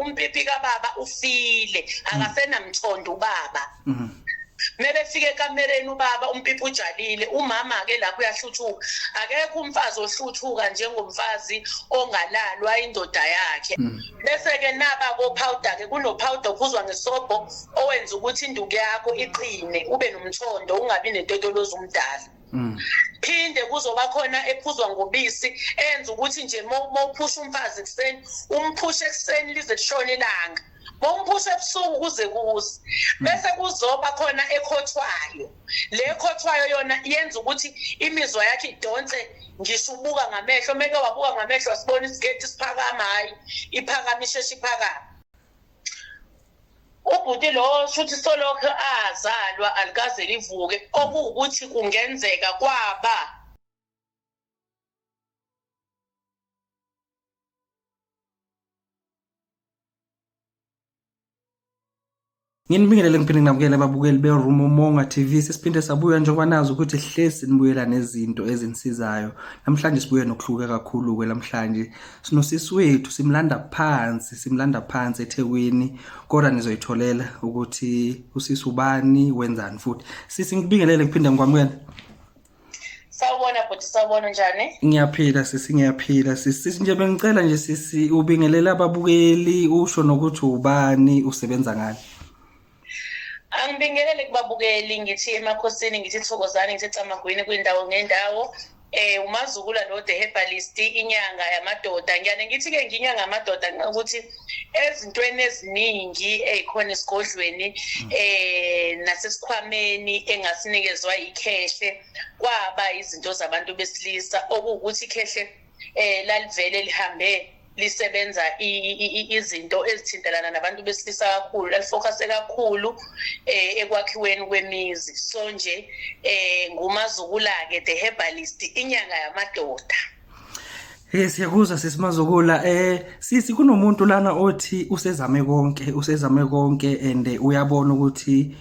umpipi kababa ufile akasenamthondo ubaba mhm. mebefika ekamereni ubaba umpipi ujalile umama ke lapho uyahluthuka akekho umfazi ohluthuka njengomfazi ongalalwa indoda yakhe mhm. bese ke naba ko powder ke kuno powder okuzwa ngesobho owenza ukuthi induku yakho iqine ube nomthondo ungabi netotoloza umdala Mm. phinde kuzoba khona ephuzwa ngobisi enza ukuthi nje uma uphusha umfazi ekuseni umphushe ekuseni lize lishone ilanga bomphusha ebusuku kuze kuze hmm. bese kuzoba khona ekhothwayo le khothwayo yona yenza ukuthi imizwa yakhe idonse ngisho ubuka ngamehlo meke wabuka ngamehlo wasibona isigeti siphakama hayi iphakama isheshe iphakama ubhuti lowo shuthi solokhu azalwa alikaze livuke okuwukuthi kungenzeka kwaba nginibingelele ngiphinde nginabukele ababukeli berumo monga tv sesiphinde sabuya njengoba nazi ukuthi hlesi nibuyela nezinto ezinisizayo namhlanje sibuye nokuhluke kakhulu-ke namhlanje sinosisi wethu simlanda phansi simlanda phansi eThekwini kodwa nizoyitholela ukuthi usisi ubani wenzani futhi sisi ngikubingelele ngiphinda ngikwamukela Sawubona bhuti sawubona njani? Ngiyaphila sisi ngiyaphila sisi nje bengicela nje sisi ubingelele ababukeli usho nokuthi ubani usebenza ngani. angibingelele kubabukeli ngithi emakhosini ngithi thokozani ngithi camagwini kwindawo ngendawo eh umazukula lo the herbalist inyanga yamadoda ngiyane ngithi ke nginyanga yamadoda ukuthi ezintweni eziningi ezikhona esigodlweni hmm. eh nasesikhwameni engasinikezwa ikhehle kwaba izinto zabantu besilisa okuwukuthi ikhehle eh lalivele lihambe lisebenza izinto ezithintelana nabantu besilisa kakhulu lalifocuse kakhulu eh ekwakhiweni kwemizi so nje eh ngumazukula-ke the herbalist inyanga yamadoda Hey siyakuzwa sesimazukula eh sisi kunomuntu lana othi usezame konke usezame konke and uyabona ukuthi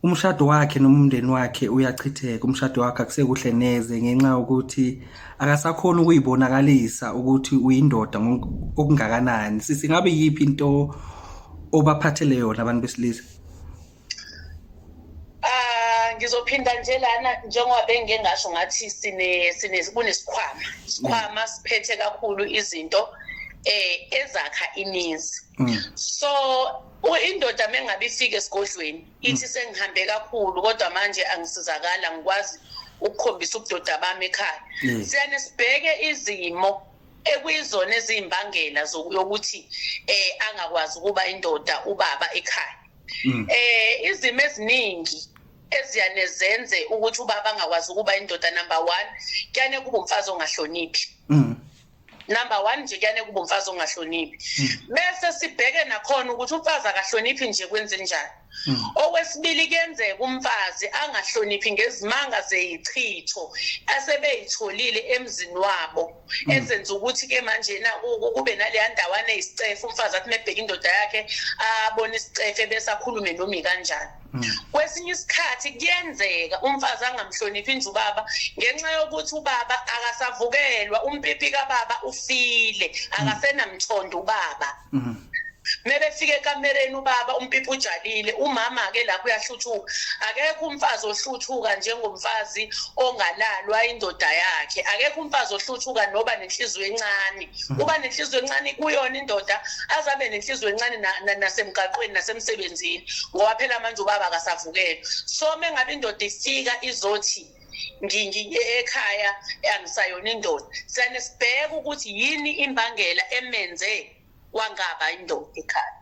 umshado wakhe noma umndeni wakhe uyachitheka umshado wakhe akusekuhle neze ngenxa yokuthi akasakhona ukuyibonakalisa ukuthi uyindoda okungakanani sisi ngabe yiphi into obaphathele yona abantu besilisa ah, ngizophinda nje lana njengoba bengike ngasho ngathi sine sine kunesikhwama isikhwama siphethe kakhulu izinto eh ezakha imizi mm. so indoda mengabe ifika esigodlweni hmm. ithi sengihambe kakhulu kodwa manje angisizakala ngikwazi ukukhombisa ubudoda bami ekhaya hmm. siyane sibheke izimo ekuyizona eziyimbangela yokuthi eh angakwazi ukuba indoda ubaba ekhaya hmm. eh izimo eziningi eziyane zenze ukuthi ubaba angakwazi ukuba indoda number 1 kuyane kuba umfazi ongahloniphi number one nje kuyane kuba umfazi ongahloniphi hmm. bese sibheke nakhona ukuthi umfazi akahloniphi nje kwenzenjani hmm. okwesibili kuyenzeka umfazi angahloniphi ngezimanga zeyichitho asebeyitholile emzini wabo hmm. ezenza ukuthi ke manje na kube naleya ndawana isicefe umfazi athi mebheka indoda yakhe abone isicefe bese akhulume nomi kanjani kwesinye isikhathi kuyenzeka umfazi angamhloniphi inje ubaba ngenxa yokuthi ubaba akasavukelwa umpipi kababa ufile akasenamthondo ubaba mhm. mebefika ekamereni ubaba umpipi ujalile umama ke lapho uyahluthuka akekho umfazi ohluthuka njengomfazi ongalalwa indoda yakhe akekho umfazi ohluthuka noba nenhliziyo encane uba nenhliziyo encane kuyona indoda azabe nenhliziyo encane nasemgaqweni nasemsebenzini ngoba phela manje ubaba akasavukele so uma ngabe indoda ifika izothi ekhaya angisayona indoda siyane sibheke ukuthi yini imbangela emenze wangaba indoda ekhaya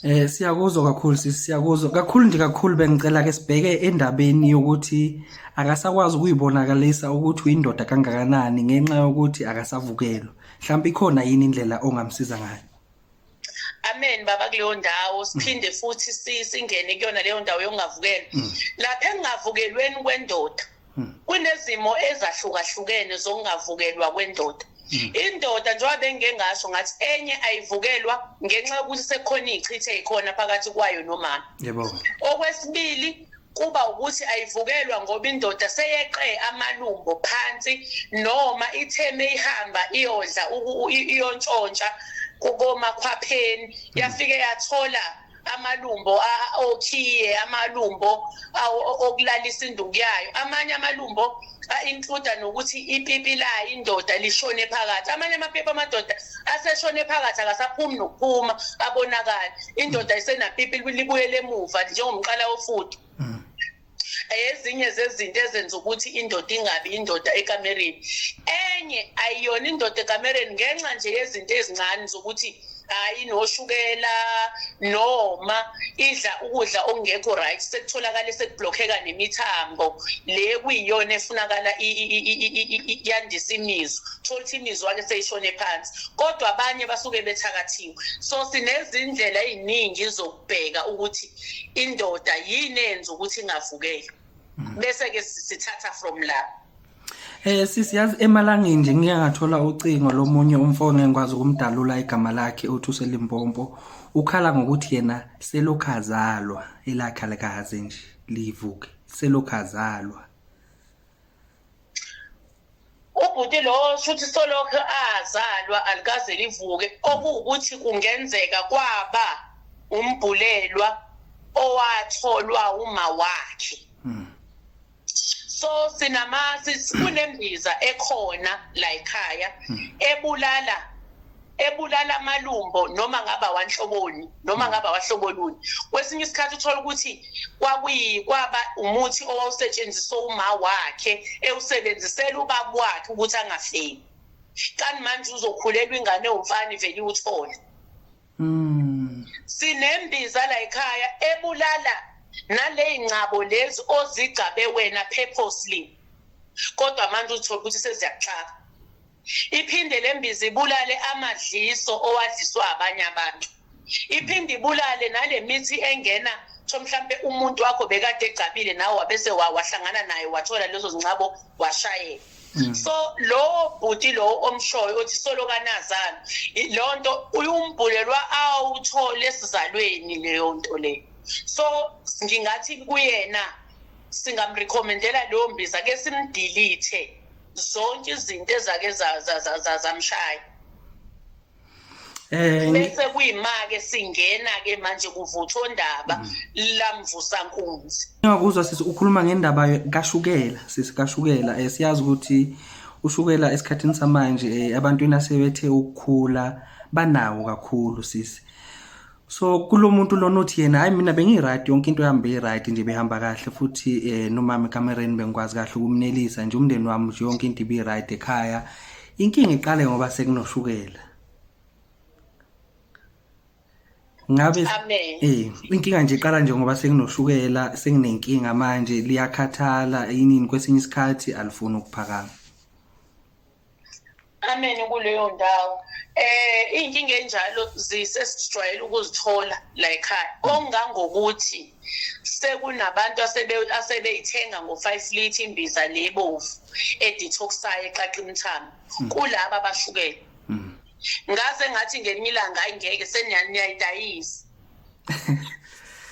Eh siyakuzwa kakhulu sisi siyakuzwa kakhulu nje kakhulu bengicela ke sibheke endabeni yokuthi akasakwazi ukuyibonakalisa ukuthi uyindoda kangakanani ngenxa yokuthi akasavukelwa mhlawumbe ikhona yini indlela ongamsiza ngayo amen baba kuleyo ndawo siphinde mm. futhi singene kuyona leyo ndawo yokungavukela mm. lapha engingavukelweni kwendoda Hmm. kunezimo ezahlukahlukene zokungavukelwa kwendoda hmm. indoda njengoba bengike ngasho ngathi enye ayivukelwa ngenxa yokuthi sekukhona iy'chithe yikhona phakathi kwayo nomama okwesibili kuba ukuthi ayivukelwa ngoba indoda seyeqe amalumbo phansi noma itheme ihamba iyodla iyontshontsha komakhwapheni hmm. yafike yathola amalumbo okhiye amalumbo okulalisa induku yayo amanye amalumbo a-includa nokuthi ipipi layo indoda lishone phakathi amanye amapipi amadoda aseshone phakathi akasaphumi nokuphuma abonakala indoda isenapipi libuyele emuva njengomqala wofudu ezinye zezinto ezenza ukuthi indoda ingabi indoda ekamereni enye ayiyona indoda ekamereni ngenxa nje yezinto ezincane zokuthi hayi noshukela noma idla ukudla okungekho right sekutholakala sekublokheka nemithambo le kuyiyona efunakala yandisa imizwa thola ukuthi imizwa-ke seyishone phansi kodwa abanye basuke bethakathiwe so sinezindlela ey'ningi zokubheka ukuthi indoda yini enza ukuthi ingavukeli mm. bese ke sithatha from la Eh sisi yazi emalangeni nje ngike ngathola ucingo lomunye umfone engikwazi ukumdalula igama lakhe uthi uselimpompo ukhala ngokuthi yena selokhazalwa elakha likaze nje livuke selokhazalwa ubhuti lowo shuthi solokhu azalwa alikaze livuke okuwukuthi kungenzeka kwaba umbhulelwa owatholwa uma wakhe hmm. so sinama kunembiza ekhona la ekhaya hmm. ebulala ebulala amalumbo noma ngaba wanhloboni noma ngaba wahloboluni kwesinye isikhathi uthola ukuthi kwakuyikwaba umuthi owawusetshenziswa uma wakhe ewusebenzisela ubaba wakhe ukuthi angafeli kani manje uzokhulelwa ingane ewumfana ivele iwuthole mm. sinembiza la ekhaya ebulala naley'ngcabo lezi ozigcabe wena purposely kodwa manje uthole ukuthi seziyakuxaka iphinde le mbiza ibulale amadliso owadliswa abanye abantu iphinde ibulale nale mithi engena so mhlampe umuntu wakho bekade egcabile nawe wabese wahlangana naye wathola lezo zincabo washayela mm. so lowo bhuti lowo omshoyo othi solokanazana leyo nto uyumbhulelwa awuthole esizalweni leyo nto leyo so ngingathi kuyena singamrekhomendela leyo mbiza ke simdilithe zonke izinto ezake zamshaya eh, bese kuyimake singena ke manje kuvutha ondaba mm. lamvusa nkunzi ngakuzwa sisi ukhuluma ngendaba kashukela sisi kashukela eh, siyazi ukuthi ushukela esikhathini samanje eh, abantu inasebethe ukukhula banawo kakhulu sisi so kulo muntu lona uthi yena hayi mina bengiyi-right yonke into yami beyi-right nje behamba kahle futhi um eh, nomama ekamereni bengikwazi kahle ukumnelisa nje umndeni wami nje yonke into ibiyi-right ekhaya inkinga iqale ngoba sekunoshukela ngabe eh inkinga nje iqala nje ngoba senginoshukela senginenkinga manje liyakhathala yinini kwesinye isikhathi alifuni ukuphakama ameni kuleyo ndawo eh inkinga enjalo zisesijwayele ukuzithola la ekhaya ongangokuthi sekunabantu asebe asebeyithenga ngo5 lit imbiza lebovu edetoxayo eqaqa imthamo hmm. kulabo abashukele hmm. ngaze ngathi ngelinye ilanga ayingeke seniyayidayisa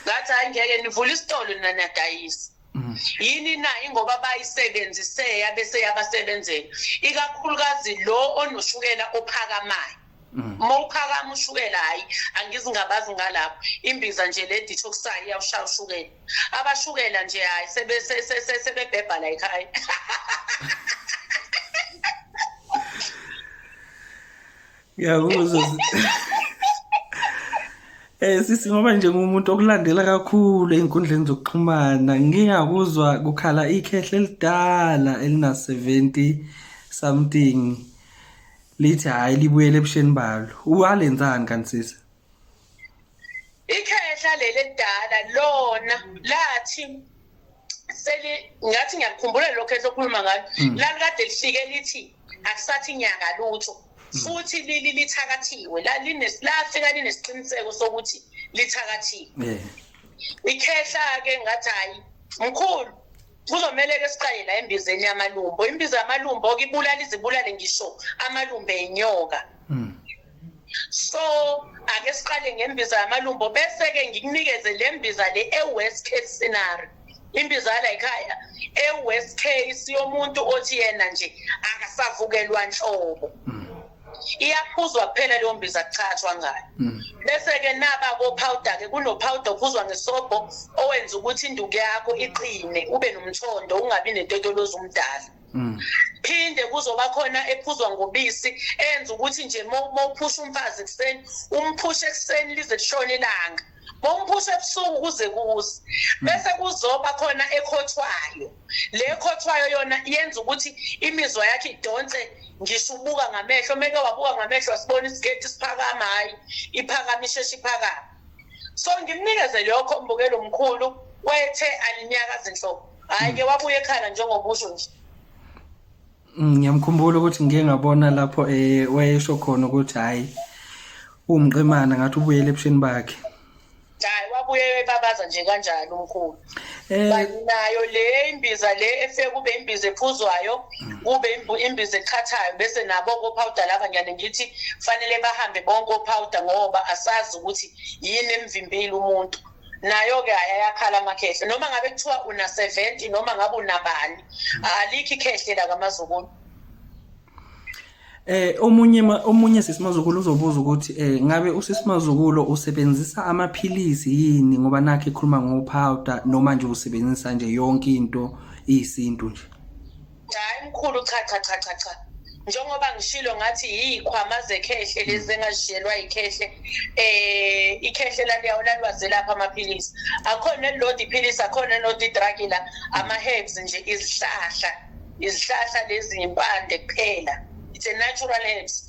ngathi ayingeke nivula isitolo nina niyadayisa Mm. yini na ingoba bayisebenzise yabe seyabasebenzela ikakhulukazi lo onoshukela ophakamayo mm. uma uphakama ushukela hhayi angizingabazi ngalapho imbiza nje le detoxayo iyawushaya ushukela abashukela nje hhayi sebebhebha la ekhaya Ngiyakuzwa. Eh sisi ngoba nje ngumuntu okulandela kakhulu einkundleni zokuxhumana ngiyakuzwa kukhala ikhehle elidala elina 70 something lithi hayi libuyele ebusheni balo uwalenzani kanti sisi Ikhehla leli elidala lona lathi seli ngathi ngiyakukhumbula lokho esokhuluma ngayo hmm. lalikade lifike lithi akusathi nyanga lutho hmm. futhi lili lithakathiwe lafika linesiqiniseko sokuthi lithakathiwe ikhehla ke ngathi hayi mkhulu kuzomele ke siqale la embizeni yamalumbo imbiza yamalumbo ke ibulala izibulale ngisho amalumbe enyoka hmm. so ake siqale ngembiza yamalumbo bese-ke ngikunikeze le mbiza le e-west case scenario imbiza yala yikhaya e-west case yomuntu othi yena nje akasavukelwa nhlobo mm. iyaphuzwa kuphela leyo mbiza kuchathwa ngayo mm. bese-ke naba kopowder-ke kunopowder ophuzwa ngesobho owenza ukuthi induku yakho iqine ube nomthondo ungabi netetolozi umdala Mm. phinde kuzoba khona ephuzwa ngobisi enza ukuthi nje mawuphusha umfazi ekuseni umphushe ekuseni lize lishone ilanga bomphusha ebusuku kuze kuze hmm. bese kuzoba khona ekhothwayo le khothwayo yona yenza ukuthi imizwa yakhe idonse ngisho ubuka ngamehlo meke wabuka ngamehlo wasibona isigeti siphakama hayi iphakama isheshe iphakama so ngimnikeze lokho mbukelo mkhulu wethe alinyakazi nhlobo hhayi ke wabuye ekhala njengokusho nje mm, ngiyamkhumbula ukuthi ngike ngabona lapho eh wayesho khona ukuthi hhayi uwumqemana ngathi ubuyele ebusheni bakhe hhayi wabuye ebabaza nje kanjalo umkhulu Eh. nayo le imbiza le efike kube imbiza ephuzwayo kube imbiza eqhathayo bese nabo kopowder laba ngiyane ngithi fanele bahambe bonke opowder ngoba asazi ukuthi yini emvimbile umuntu nayo-ke ayayakhala amakhehle noma ngabe kuthiwa una-seventy noma ngabe unabani alikho ikhehle la kamazukulu Eh omunye omunye sisimazukulu uzobuza ukuthi eh ngabe usisimazukulu usebenzisa amaphilisi yini ngoba nakhe ekhuluma ngo powder noma nje usebenzisa nje yonke into iyisintu nje. Hayi mkhulu cha cha cha cha cha. njengoba ngishilo ngathi yiyikhwama zekhehle lezi engazishiyelwa yikhehle eh ikhehle laliyawo lalwaze lapha amaphilisi akhona elilodi iphilisi akhona elilodi idragi la ama-herbs nje izihlahla izihlahla lezi impande kuphela it's a natural herbs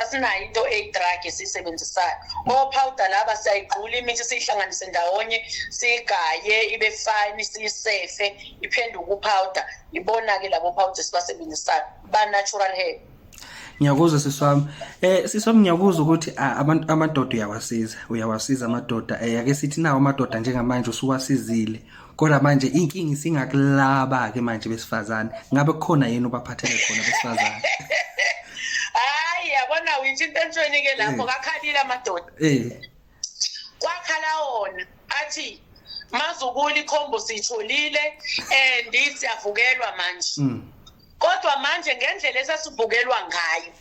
asinayo into eyi-drug esiyisebenzisayo ophawuda laba siyayigqula imithi siyihlanganise ndawonye siyigaye ibe fine siyisefe iphenduke uphawuda ibona-ke labo phawuda esibasebenzisayo ba-natural hair ngiyakuzwa sisi wami eh sisi wami ngiyakuzwa ukuthi abantu amadoda uyawasiza uyawasiza amadoda eh ake sithi nawo amadoda njengamanje usuwasizile kodwa manje inkingi isingakulaba ke manje besifazane ngabe kukhona yini obaphathele khona besifazane hayi yabona uyinto entweni ke lapho eh. kakhalile amadoda eh kwakhala wona athi mazukuli khombo siyitholile and siyavukelwa manje mm. kodwa manje ngendlela esasivukelwa ngayo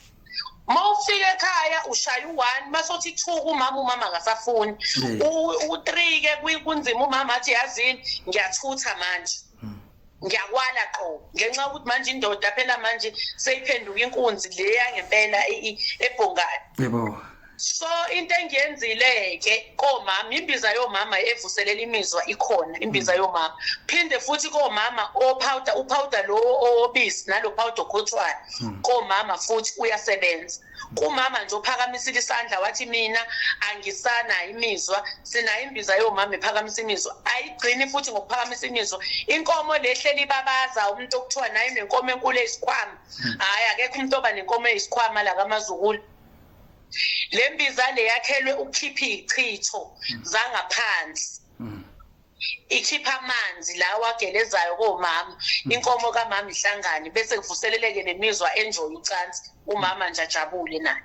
uma ufika ekhaya ushaya u-one uma sothi two kumama umama akasafuni u-three-ke kunzima umama athi yazini ngiyathutha manje ngiyakwala qo ngenxa yokuthi manje indoda phela manje seyiphenduka inkunzi le yangempela ebhongane yebo so into engiyenzile-ke komama imbiza yomama evuselela imizwa ikhona imbiza mm. yomama phinde futhi komama ophawuda uphawuda lowo owobisi nalo phawuda okhothwayo mm. komama futhi uyasebenza kumama nje ophakamisile isandla wathi mina angisanayo imizwa sinayo imbiza yomama ephakamisa imizwa ayigcini futhi ngokuphakamisa imizwa inkomo lehleli ibabaza umuntu okuthiwa naye nenkomo enkulu eyisikhwama hmm. hhayi akekho umuntu oba nenkomo eyisikhwama la kamazukulu le mbiza le yakhelwe ukukhipha iy'chitho hmm. zangaphansi hmm. ikhipha amanzi lawa agelezayo komama hmm. inkomo kamama ihlangane bese kuvuseleleke nemizwa enjoy ucansi umama nje ajabule naye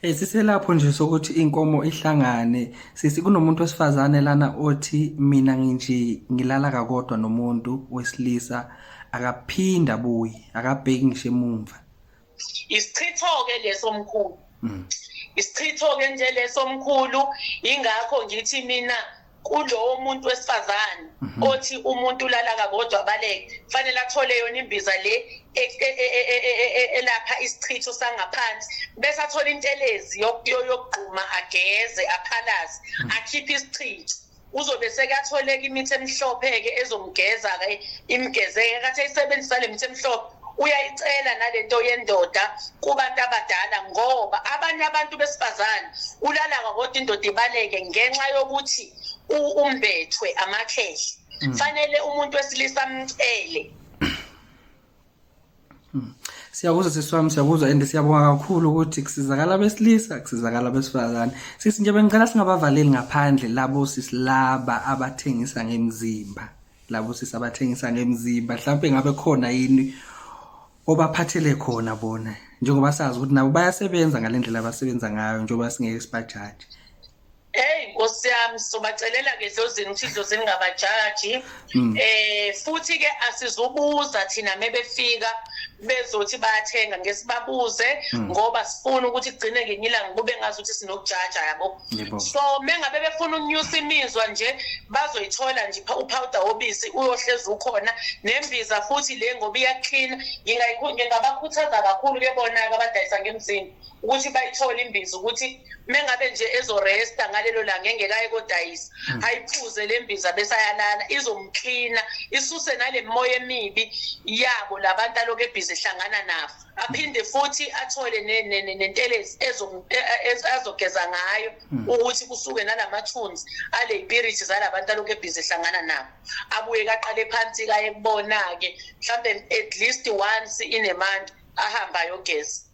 Eh siselapho nje sokuthi inkomo ihlangane sisi kunomuntu wesifazane lana othi mina nginje ngilala kakodwa nomuntu wesilisa akaphinda buyi akabheki ngisho emumva isichitho-ke leso mkhulu mm. isichitho-ke nje leso mkhulu yingakho ngithi mina kulowo muntu wesifazane mhm. othi umuntu ulala kakodwa baleke kufanele athole yona imbiza le e- e- e- elapha isichitho sangaphansi bese athola intelezi yokugquma ageze aphalaze mhm. akhiphe isichitho uzobe sekatholeka imithi emhlophe-ke ezomgeza-ke imgezeke kathi ayisebenzisa le mithi emhlophe uyayicela nalento yendoda kubantu abadala ngoba abanye abantu besifazane ulala kwakodwa indoda ibaleke ngenxa yokuthi umbethwe amakhehle mm. fanele umuntu wesilisa amcele Hmm. Siyakuzwa sisi wami siyakuzwa and siyabonga kakhulu ukuthi kusizakala abesilisa kusizakala abesifazane. Sisi nje bengicela singabavaleli ngaphandle labo sisi laba abathengisa ngemzimba. Labo sisi abathengisa ngemzimba mhlawumbe ngabe khona yini obaphathele khona bona njengoba sazi ukuthi nabo bayasebenza ngalendlela abasebenza ngayo njengoba singeke sibajaje. Hey Nkosi yami sizobacelela ke dlozini ukuthi idlozini ngabajaji mm. eh futhi ke asizubuza thina mebefika bezothi bayathenga ngesibabuze mm. ngoba sifuna ukuthi kugcine ngenye ilanga kube ngazi ukuthi sinokujaja yabo so mengabe befuna unyusa imizwa nje bazoyithola nje upowder obisi uyohlezi ukhona nembiza futhi le ngoba iyaklina ngingabakhuthaza kakhulu ke bona abadayisa ngemzini ukuthi bayithole imbiza ukuthi mengabe nje ezoresta ngalelo langa engekaye kodayisa hmm. ayiphuze le mbiza besayalala izomklina isuse nale moya emibi yabo labantu aloku ebhizi ehlangana nabo aphinde futhi athole nentelezi e, e, azogeza ngayo hmm. ukuthi kusuke nalamathunzi aleyipiriti zalabantu aloku ebhizi ehlangana nabo abuye kaqale phansi kaye kubona-ke mhlawumbe at least once in a month ahambe ayogeza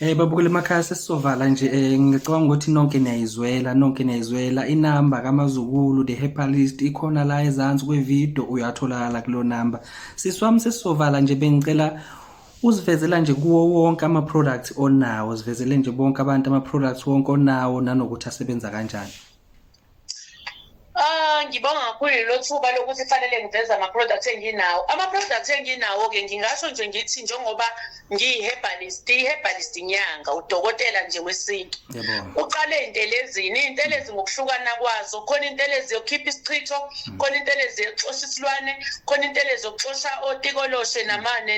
Eh babukele emakhaya sesizovala nje eh ngicabanga ukuthi nonke niyayizwela nonke niyayizwela inamba kaMazukulu the herbalist ikhona la ezansi kwevideo uyatholakala kulo number siswami sesizovala nje bengicela uzivezela nje kuwo wonke ama products onawo zivezele nje bonke abantu ama products wonke onawo nanokuthi asebenza kanjani Ah ngibonga kakhulu lelo thuba lokuthi fanele ngiveze ama-product enginawo ama-product enginawo-ke ngingasho nje ngithi njengoba ngiyi-herbalist i-herbalist inyanga udokotela nje wesintu uqale intelezini iy'ntelezi ngokuhlukana kwazo khona intelezi yokukhipha isichitho hmm. khona intelezi yokuxosha isilwane khona intelezi yokuxosha otikoloshe namane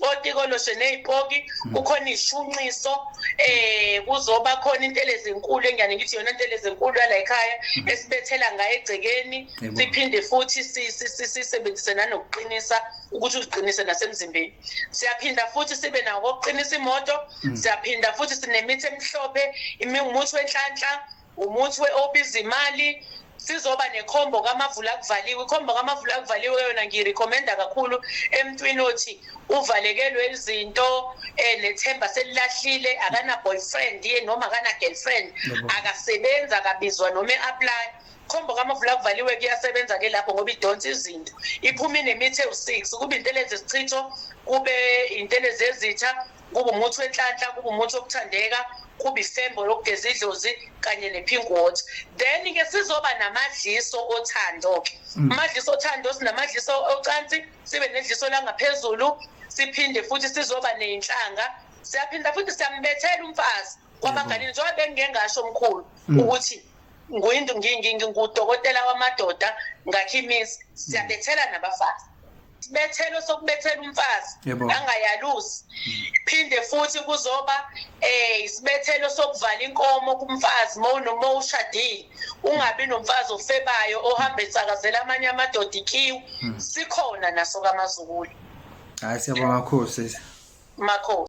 otikoloshe ney'poki hmm. kukhona iy'shunqiso um kuzoba khona intele ezinkulu engiyane ngithi yona intele ezinkulu yala ekhaya hmm. esibethela ngayo egcekeni siphinde futhi sisebenzise nanokuqinisa ukuthi uziqinise nasemzimbeni siyaphinda futhi sibe nawo kokuqinisa imoto hmm. siyaphinda futhi sinemithi emhlophe imimuthi wenhlanhla Umuthi we-obiza imali sizoba nekhombo kamavula kuvaliwe ikhombo kamavula kuvaliwe yona ngiyirecommenda kakhulu emntwini othi uvalekelwe izinto eh nethemba selilahlile akana boyfriend ye noma akana girlfriend akasebenza akabizwa noma eapply khombo kamavula kuvaliwe kuyasebenza ke lapho ngoba idonsa izinto iphuma inemithi ewu-six kube intelezi sichitho kube intelezi ezitha Kuba umuthi wenhlanhla, kuba umuthi wokuthandeka, kuba isembo lokugeza idlozi kanye ne-pink water. Then-ke sizoba namadliso othando-ke. Mm. Amadliso othando sinamadliso ocansi, sibe nedliso langaphezulu, siphinde futhi sizoba ney'nhlanga. Siyaphinda futhi siyambethela umfazi kwabanganini mm. njengoba bengingengasho omkhulu mm. ukuthi ngudokotela wamadoda ngakhimisi siyabethela nabafazi isibethelo sokubethela umfazi angayalusi phinde futhi kuzoba eh isibethelo sokuvala inkomo kumfazi mawunoma ushadile ungabi nomfazi ofebayo ohamba etsakazela amanye amadoda ikiwu hmm. sikhona naso kamazukulu hayi siyabonga kakhulu sisi makhosi